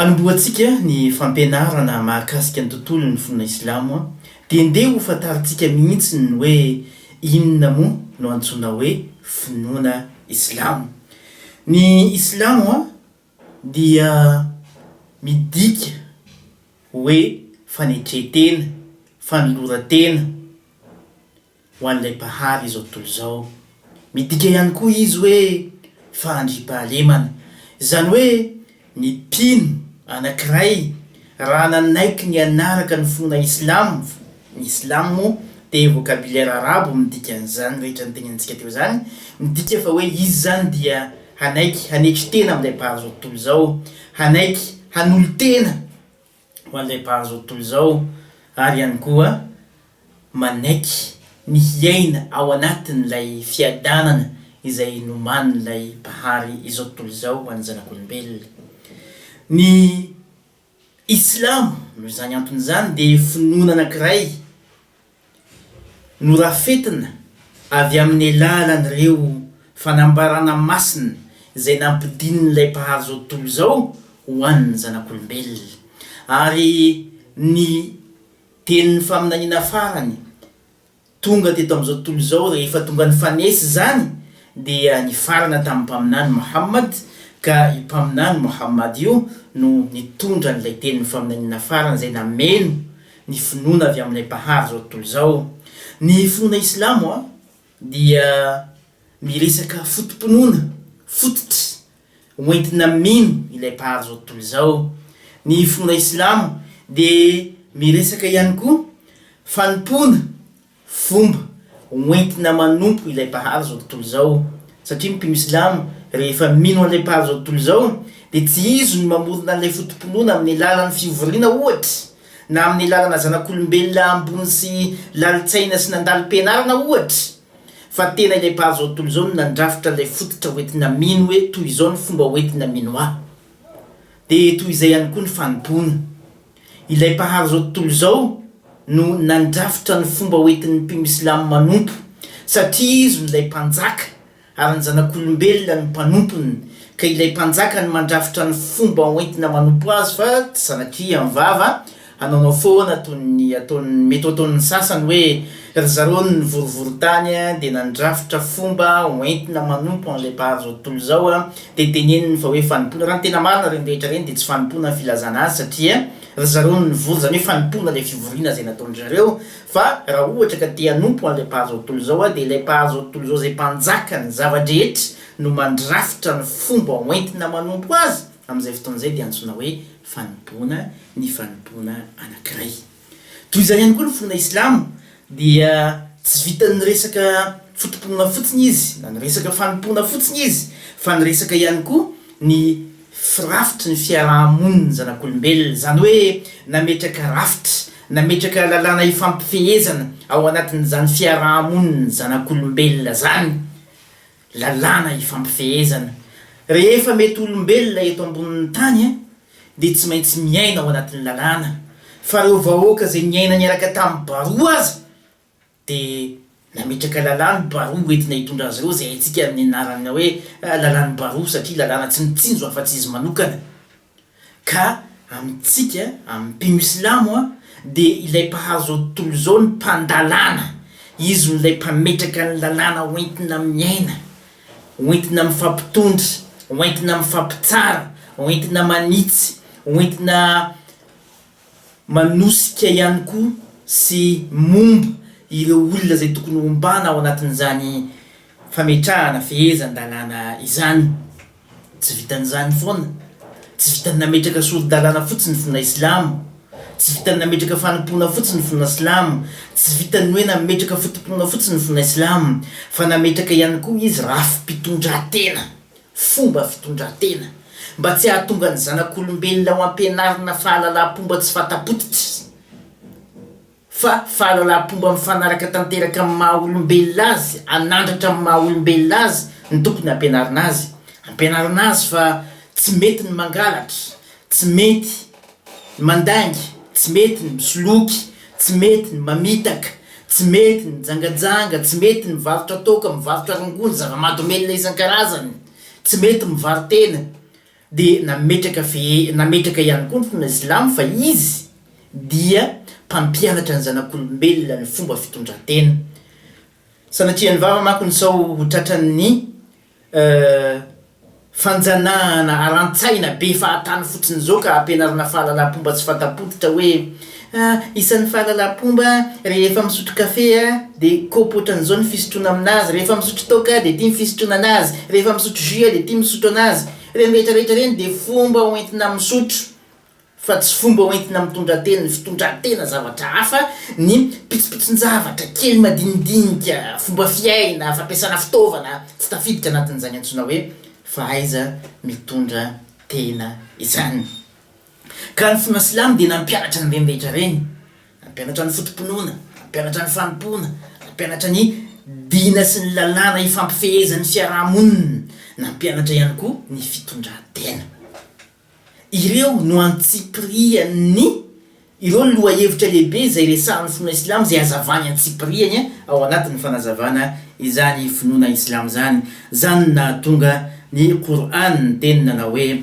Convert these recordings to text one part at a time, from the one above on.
Anombohantsika ny fampianarana mahakasika ny tontolon'ny finoana Islamo dia ndeha ho fantarintsika mihitsy ny hoe inona moa no antsoina hoe finoana Islamo. Ny Islamo dia midika hoe fanetren-tena, fanoloran-tena, ho an'ilay Mpahary izao tontolo izao. Midika ihany koa izy hoe fahandriam-pahalemana, izany hoe ny mpino anankiray raha nanaiky ny hanaraka ny finoana islam, ny islam moa dia vocabulaire arabo midika an'izany rehetra notenenintsika teo izany, midika fa hoe izy izany dia hanaiky hanetry tena amin'ilay Mpahary izao tontolo izao, hanaiky hanolo-tena, ho an'ilay mpahazo ny tontolo izao ary ihany koa manaiky ny hiaina ao anatin'ilay fiadanana izay nomanin'ilay Mpahary izao tontolo izao ho an'ny zanak'olombelona. Ny Islamo, noho izany antony izany, dia finoana anankiray. Norafetina avy amin'ny alalan'ireo fanambarana masina izay nampidinin'ilay Mpahary izao tontolo izao ho an'ny zanak'olombelona, ary ny Tenin'ny faminaniana farany tonga teto amin'izao tontolo izao rehefa tonga nifanesy izany dia nifarana tamin'ny Mpaminany Mohammad, ka io Mpaminany Mohammad io no nitondra an'ilay Tenin'ny faminaniana farany izay nameno ny finoana avy amin'ilay Mpahary izao tontolo izao. Ny finoana islamo dia miresaka foto-pinoana fototry ho entina mino ilay Mpahary izao tontolo izao. Ny finoana islamo dia miresaka ihany koa fanompoana fomba hoentina manompo ilay Mpahary izao tontolo izao, satria ny mpino silamo rehefa mino an'ilay Mpahary izao tontolo izao dia tsy izy no mamorona an'ilay foto-pinoana amin'ny alalan'ny fivoriana ohatra, na amin'ny alalana zanak'olombelona ambony sy lalin-tsaina sy nandalim-pianarana ohatra, fa tena ilay Mpahary izao tontolo izao no nandrafitra ilay fototra hoentina mino hoe toy izao ny fomba hoentina mino ahy, dia toy izay ihany koa ny fanompoana. Ilay mpahary izao tontolo izao no nandrafitra ny fomba hoentin'ny mpino silamo manompo, satria izy no ilay mpanjaka ary ny zanak'olombelona no mpanompony, ka ilay mpanjaka no mandrafitra ny fomba hoentina manompo azy fa tsy zanak'i am vava hanaonao foana toy ny ataon'ny mety ho ataon'ny sasany hoe ry zareo ny nivorivory tany dia nandrafitra fomba hoentina manompo an'ilay mpahary izao tontolo izao dia teneniny fa hoe fanompoana, raha ny tena marina ireny rehetra ireny dia tsy fanompoana ny filazana azy satria ry zareo no nivory, izany hoe fanompoana ilay fivoriana izay nataon-dry zareo, fa raha ohatra ka te hanompo an'ilay mpahazo izao tontolo izao aho dia ilay mpahazo izao tontolo izao izay mpanjaka ny zava-drehetra no mandrafitra ny fomba hoentina manompo azy, amin'izay fotoana izay dia antsoina hoe fanompoana ny fanompoana anankiray. Toy izany ihany koa ny finoana islamo dia tsy vitan'ny resaka foto-pinoana fotsiny izy na ny resaka fanompoana fotsiny izy fa niresaka ihany koa ny firafitry ny fiaraha-monin'ny zanak'olombelona, izany hoe nametraka rafitra, nametraka lalàna ifampifehezana ao anatin'izany fiaraha-monin'ny zanak'olombelona izany. Lalàna ifampifehezana, Rehefa mety olombelona eto ambonin'ny tany dia tsy maintsy miaina ao anatin'ny lalàna, fa ireo vahoaka izay niaina niaraka tamin'ny baroa aza dia nametraka lalàn'ny baroa ho entina hitondra azy ireo izay haintsika amin'ny anarana hoe lalàn'ny baroa satria lalàna tsy mitsinjo afa-tsy izy manokana. Ka amintsika, amin'ny mpino silamo, dia ilay mpahazo izao tontolo izao ny mpandalana, izy no ilay mpametraka ny lalàna hoentina miaina, hoentina mifampitondra, hoentina mifampitsara, hoentina manitsy, hoentina manosika ihany koa sy momba ireo olona izay tokony hombana ao anatin'izany fametrahana fehezan-dalàna izany. Tsy vitan'izany foana, tsy vitan'ny nametraka sori-dalàna fotsiny ny finoana silamo, tsy vitan'ny nametraka fanompoana fotsiny ny finoana silamo, tsy vitan'ny hoe nametraka foto-pinoana fotsiny ny finoana silamo, fa nametraka ihany koa izy rafi-pitondrantena, fomba fitondrantena, mba tsy hahatonga ny zanak'olombelona ho ampianarina fahalalaham-pomba tsy fanta-potitra. fa fahalalam-pomba mifanaraka tanteraka amin'ny maha olombelona azy, hanandratra amin'ny maha olombelona azy no tokony hampianarina azy. Ampianarina azy fa tsy mety ny mangalatra, tsy mety ny mandainga, tsy mety ny misoloky, tsy mety ny mamitaka, tsy mety ny mijangajanga, tsy mety ny mivarotra toaka, mivarotra rongony, zava-mahadomelina isan-karazany, tsy mety mivaro-tena, Dia nametraka ve nametraka ihany koa ny finoana silamo fa izy dia mpampianatra ny zanak'olombelona ny fomba fitondran-tena. Sanatrian'ny vava manko ny sao ho tratran'ny fanjanahana aran-tsaina be fahatany fotsiny izao ka ampianarina fahalalam-pomba tsy fanta-pototra hoe A, Isan'ny fahalalam-pomba rehefa misotro kafe dia kaopy ohatran'izao ny fisotroana amin'azy, rehefa misotro toaka dia ity ny fisotroana an'azy, rehefa misotro jus dia ity ny misotro an'azy. Ireny rehetra rehetra ireny dia fomba hoentina misotro fa tsy fomba hoentina mitondra tena, ny fitondran-tena zavatra hafa, ny pitsopitson-javatra kely madinidinika, fomba fiaina, fampiasana fitaovana tsy tafiditra anatin'izany antsoina hoe fahaiza-mitondra tena izany. Ka ny finoana silamo dia nampianatra an'ireny rehetra ireny, nampianatra ny foto-pinoana, nampianatra ny fanompoana, nampianatra ny dina sy ny lalàna ifampifehezan'ny fiaraha-monina, nampianatra ihany koa ny fitondran-tena. Ireo no antsipirian'ny ireo lohahevitra lehibe izay resahan'ny finoana silamo izay hazavany antsipiriany ao anatin'ny fanazavana izany finoana islamo izany, izany nahatonga ny Qur'an niteny nanao hoe,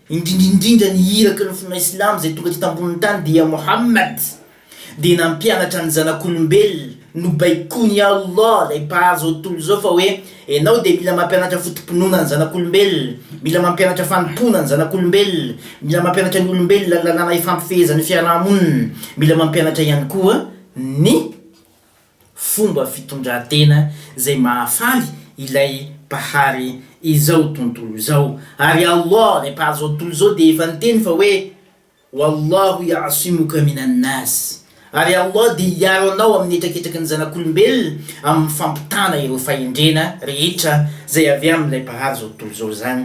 Indrindraindrindra ny iraky ny finoana Islamo izay tonga teto ambonin'ny tany dia Mohammad dia nampianatra ny zanak'olombelona nobaikoin'i Allah ilay Mpahary izao tontolo izao fa hoe, Ianao dia mila mampianatra foto-pinoana ny zanak'olombelona, mila mampianatra fanompoana ny zanak'olombelona, mila mampianatra ny olombelona ny lalàna ifampifehezan'ny fiaraha-monina, mila mampianatra ihany koa ny. Fomba fitondran-tena izay mahafaly ilay Mpahary izao tontolo izao. Ary Allah, ilay Mpahary izao tontolo izao dia efa niteny fa hoe, Wallahu ya'simuka minan nas, Ary Allah dia hiaro anao amin'ny hetraketraky ny zanak'olombelona amin'ny fampitana ireo fahendrena rehetra izay avy amin'ilay Mpahary izao tontolo izao izany.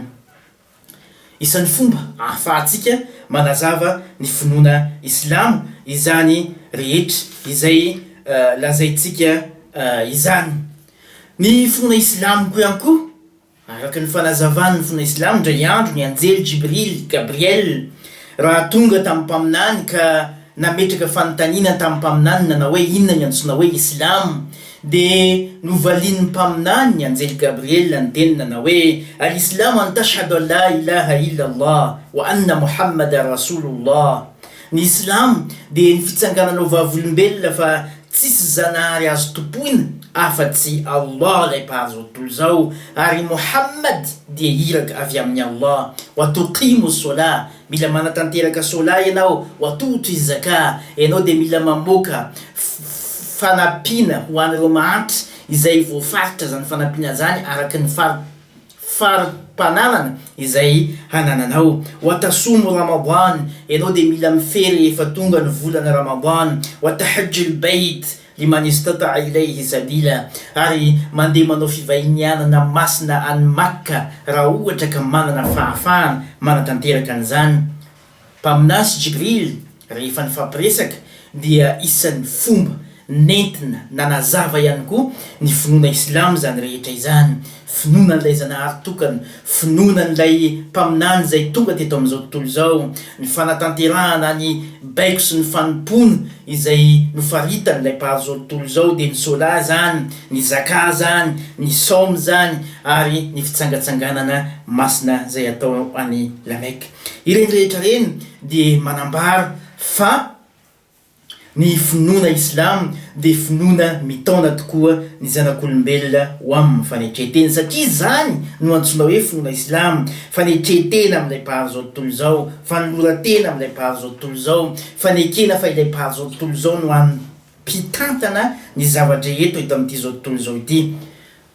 Isan'ny fomba ahafahantsika manazava ny finoana Islamo izany rehetra izay lazaintsika izany. Ny finoana Islamiko ihany koa, araka ny fanazavan'ny finoana Islamo, indray andro ny anjely Jibril, Gabriel, raha tonga tamin'ny Mpaminany ka nametraka fanontaniana tamin'ny Mpaminany nanao hoe, Inona ny antsoina hoe Islamo? Dia novalian'ny Mpaminany, ny Anjely Gabriela, ny teniny nanao hoe, Al-Islamu an tashhadu an la ilaha illa Allah wa anna Muhammadan Rasulullah, Ny Islamo dia ny fitsangananao vavolombelona fa tsisy Zanahary azo tompoina afa-tsy Allah ilay Mpahazo tontolo izao, ary i Mohammad dia iraka avy amin'i Allah, wa tuqimu s-solah, Mila manatanteraka sola ianao ho atohotry ny zaka, ianao dia mila mamoaka fanampiana ho an'ireo mahantra izay voafaritra izany fanampiana izany araka ny fari-pananana izay hanananao. Watasomu Ramadan, ianao dia mila mifery rehefa tonga ny volana Ramadan. Watahajjul Bayt, Ny manistota ilay Rizabila ary mandeha manao fivahinianana masina any Makka raha ohatra ka manana fahafahana manatanteraka an'izany. Mpaminany sy Jibril rehefa nifampiresaka dia isan'ny fomba nentina nanazava ihany koa ny finoana Islam izany rehetra izany Finoana an'ilay Zanahary tokana, finoana an'ilay Mpaminany izay tonga teto amin'izao tontolo izao, ny fanatanterahana ny baiko sy ny fanompoana izay nofaritan'ilay Mpahary izao tontolo izao dia ny Sola izany, ny Zaka izany, ny Saoma izany ary ny fitsangatsanganana masina izay atao any La Mecque. Ireny rehetra ireny dia manambara fa Ny finoana islam dia finoana mitaona tokoa ny zanak'olombelona ho aminy fanetren-tena satria izany no antsoina hoe finoana islam, fanetren-tena amin'ilay Mpahary izao tontolo izao, fanoloran-tena amin'ilay Mpahary izao tontolo izao, fanekena fa ilay Mpahary izao tontolo izao no hany mpitantana ny zava-drehetra eto amin'ity izao tontolo izao ity.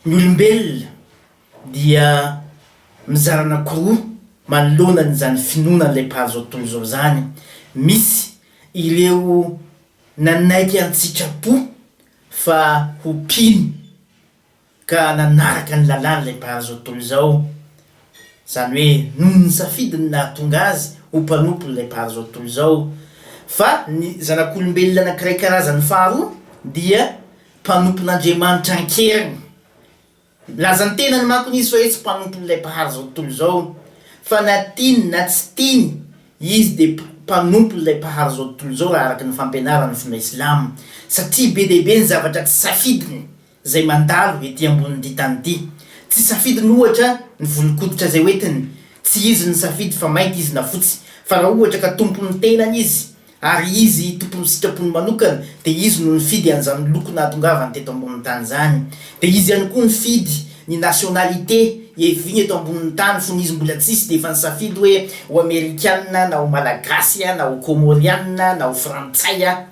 Ny olombelona. dia mizara anankiroa manoloana an'izany finoana an'ilay mpahazo tontolo izao izany, misy ireo nanaiky an-tsitrapo fa ho mpino ka nanaraka ny lalàn'ilay mpahazo tontolo izao, izany hoe noho ny safidiny nahatonga azy ho mpanompon'ilay mpahazo tontolo izao, fa ny zanak'olombelona anankiray karazany faharoa dia mpanompon'Andriamanitra an-keriny, Nilaza ny tenany manko izy fa izy tsy mpanompon'ilay mpahary izao tontolo izao, fa na tiany na tsy tiany, izy dia mpanompon'ilay mpahary izao tontolo izao raha araka ny fampianaran'ny finoana islamo, satria be dia be ny zavatra tsy safidiny izay mandalo ety ambonin'ity tany ity. Tsy safidiny ohatra ny volon-koditra izay hoentiny, tsy izy no nisafidy fa mainty izy na fotsy, fa raha ohatra ka tompon'ny tenany izy Ary Izy, Tompon'ny sitrapony manokana, dia Izy no nifidy an'izany loko nahatongavany teto ambonin'ny tany izany. Dia Izy ihany koa nifidy ny nationalité iheviany eto ambonin'ny tany, fony Izy mbola tsisy dia efa nisafidy hoe ho Amerikana na ho Malagasy na ho Kômôriana na ho Frantsay aho.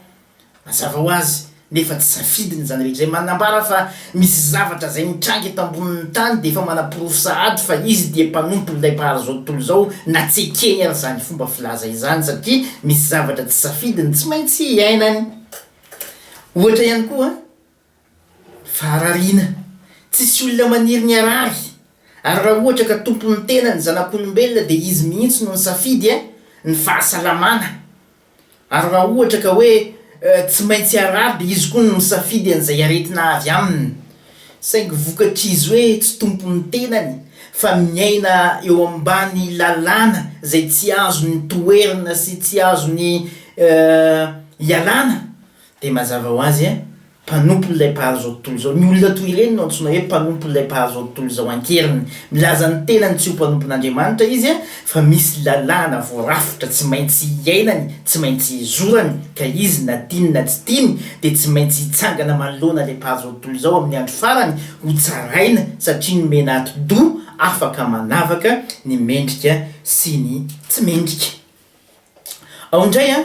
Mazava ho azy, Nefa tsy safidiny izany rehetra izany. Manambara fa misy zavatra izay mitranga eto ambonin'ny tany dia efa manaporofo sahady fa izy dia mpanompon'ilay Mpahary izao tontolo izao na tsy ekeny aza izany fomba filaza izany satria misy zavatra tsy safidiny tsy maintsy iainany. Ohatra ihany koa ny faharariana. Tsisy olona maniry ny harary ary raha ohatra ka tompon'ny tena ny zanak'olombelona dia izy mihitsy no nisafidy ny fahasalamana. Ary raha ohatra ka hoe tsy maintsy araby izy koa no misafidy an'izay aretina avy aminy, saingy vokatr'izy hoe tsy tompon'ny tenany fa miaina eo ambany lalàna izay tsy azony toherina sy tsy azony ialana, dia mazava ho azy, mpanompon'ilay mpahazo izao tontolo izao. Ny olona toy ireny no antsoina hoe mpanompon'ilay mpahazo izao tontolo izao an-keriny. Milaza ny tenany tsy ho mpanompon'Andriamanitra izy, fa misy lalàna voarafitra tsy maintsy iainany, tsy maintsy izorany, ka izy na tiany na tsy tiany dia tsy maintsy hitsangana manoloana ilay mpahazo izao tontolo izao amin'ny andro farany, hotsaraina satria nomena atidoha afaka manavaka ny mendrika sy ny tsy mendrika. Ao indray an.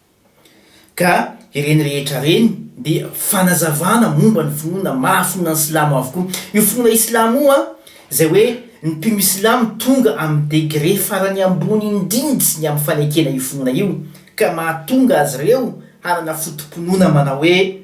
Ka ireny rehetra ireny dia fanazavana momba ny finoana maha finoana ny silamo avokoa. Io finoana islamo io an, izay hoe ny mpino islamo tonga amin'ny degré farany ambony indrindry ny amin'ny fanekena io finoana io, ka mahatonga azy ireo hanana foto-pinoana manao hoe,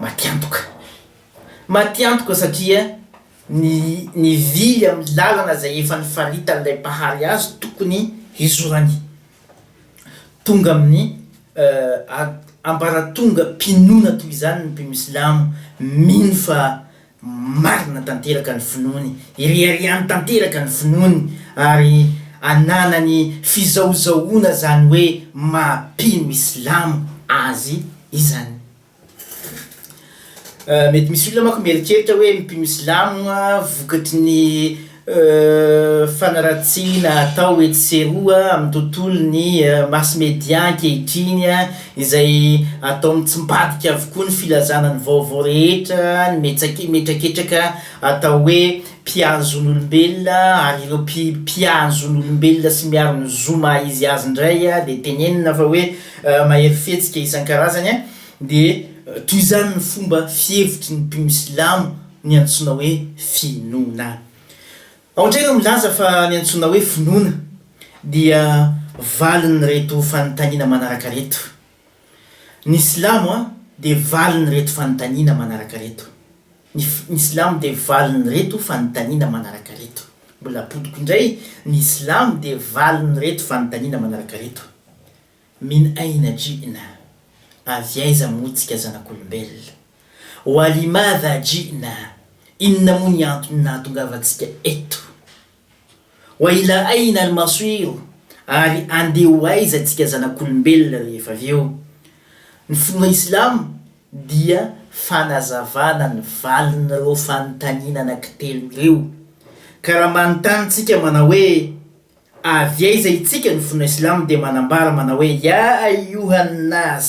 Matiantoka. Matiantoka satria ny nivily amin'ny lalana izay efa nifaritan'ilay mpahary azy tokony hizorany. Tonga amin'ny ambaratongam-pinoana toy izany ny mpino silamo, mino fa marina tanteraka ny finoany, ireharehany tanteraka ny finoany ary ananany fizahozahoana izany hoe maha-mpino islamo azy izany. Mety misy olona manko mieritreritra hoe ny mpino silamo vokatry ny fanaratsiana atao etsy sy eroa amin'ny tontolon'ny mass media ankehitriny izay ataony tsy mivadika avokoa ny filazana ny vaovao rehetra, ny metsake- mihetraketraka atao hoe mpiaro ny zon'olombelona ary ireo mpi- mpiaro ny zon'olombelona sy miaro ny zo maha-izy azy indray dia tenenina fa hoe Mahery fihetsika isan-karazany an, dia toy izany ny fomba fihevitry ny mpino silamo ny antsoina hoe finoana. Ao indray ireo milaza fa ny antsoina hoe finoana dia valin'ireto fanontaniana manaraka ireto. Ny silamo dia valin'ireto fanontaniana manaraka ireto. Ny ny silamo dia valin'ireto fanontaniana manaraka ireto. Mbola apodiko indray, ny silamo dia valin'ireto fanontaniana manaraka ireto, Min aina ji'na, avy aiza moa tsika zanak'olombelona? Wa li madha ji'na, inona moa ny antony nahatongavantsika eto? Ho aila aina ry masoiro ary andeha ho aiza tsika zanak'olombelona rehefa avy eo? Ny finoa islam dia fanazavana ny valin'ireo fanontaniana anankitelo ireo. Ka raha manontany tsika manao hoe avy aiza itsika ny finoa islam dia manambara manao hoe ya ayyuhan nas!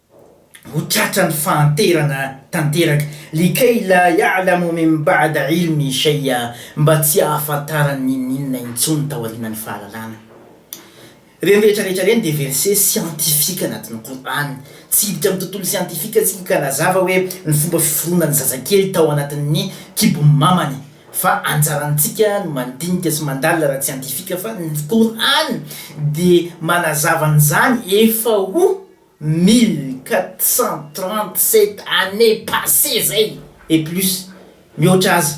Ho tratran'ny fahanterana tanteraka. Likay la ya'la mu min ba'da 'ilmin shay'a, mba tsy hahafantarany n'inon'inona intsony taorianan'ny fahalalana. Ireny rehetra rehetra ireny dia verse siantifika anatin'ny Kor'any. Tsy hiditra amin'ny tontolo siantifika isika ka hanazava hoe ny fomba fiforonan'ny zazakely tao anatin'ny kibon'ny mamany, fa anjarantsika no mandinika sy mandalina ara-tsiantifika fa ny Kor'any dia manazava an'izany efa ho. mille quatre cent trente sept années passées zay et plus mihoatra aza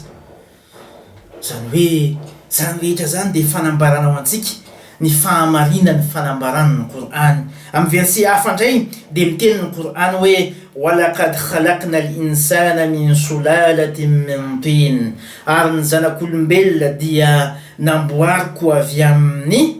zany hoe zany rehetra zany dia fanambarana ho antsika ny fahamarinan'ny fanambarana ny Kor'any amin'ny verset hafa ndray dia miteny ny Kor'any hoe walaqad khalaqna al-insana min sulalatin min tin ary ny zanak'olombelona dia namboariko avy amin'ny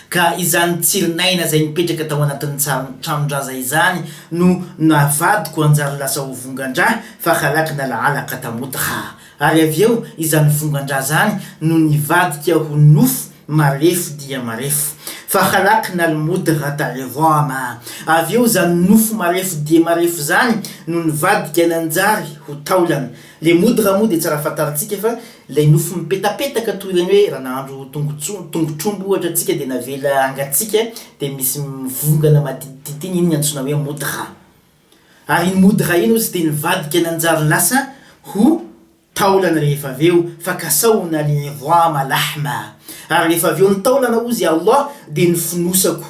Ka izany tsirin'aina izay nipetraka tao anatin'ny tsaron'ny tranon-draza izany no navadiko hanjary lasa ho vongan-dra fa halaky nalahala katamoty ra. Ary avy eo izany vongan-dra izany no nivadika ho nofo marefo dia marefo. Fa halaky nalimody ra tale voama. Avy eo izany nofo marefo dia marefo izany no nivadika nanjary ho taolana. Le moudra moa dia tsara fantarintsika fa ilay nofo mipetapetaka toy ireny hoe raha nahandro tongotsomby, tongotr'omby ohatra antsika dia navela hangatsiaka dia misy mivongana maditidity iny, iny no antsoina hoe moudra. Ary iny moudra iny hozy dia nivadika nanjary lasa ho taolana rehefa avy eo, fa kasaona li'idhama lahma. Ary rehefa avy eo ny taolana hozy i Allah dia ny fonosako.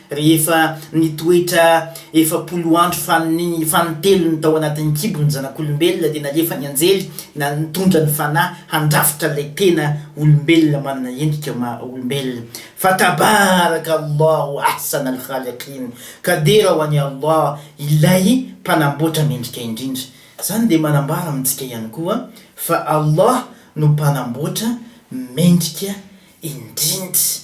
Rehefa nitoetra efapolo andro fanintelony tao anatin'ny kibo ny zanak'olombelona dia nalefa ny anjely nitondra ny Fanahy handrafitra ilay tena olombelona manana endrika maha olombelona. Fa Tabaraka Allahu Ahsan Al-Khaliqin, Kadera ho an'i Allah Ilay Mpanamboatra Mendrika Indrindra. Izany dia manambara amintsika ihany koa fa Allah no Mpanamboatra Mendrika Indrindra.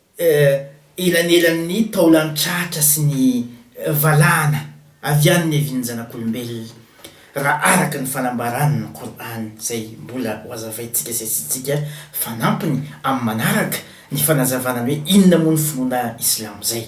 Eo elanelan'ny taolan'ny tratra sy ny valahana avy any niavian'ny zanak'olombelona, raha araka ny fanambaran'ny Qur'an izay mbola hohazavaintsika sesintsika fanampiny amin'ny manaraka, ny fanazavana ny hoe inona moa ny finoana Islamo izay.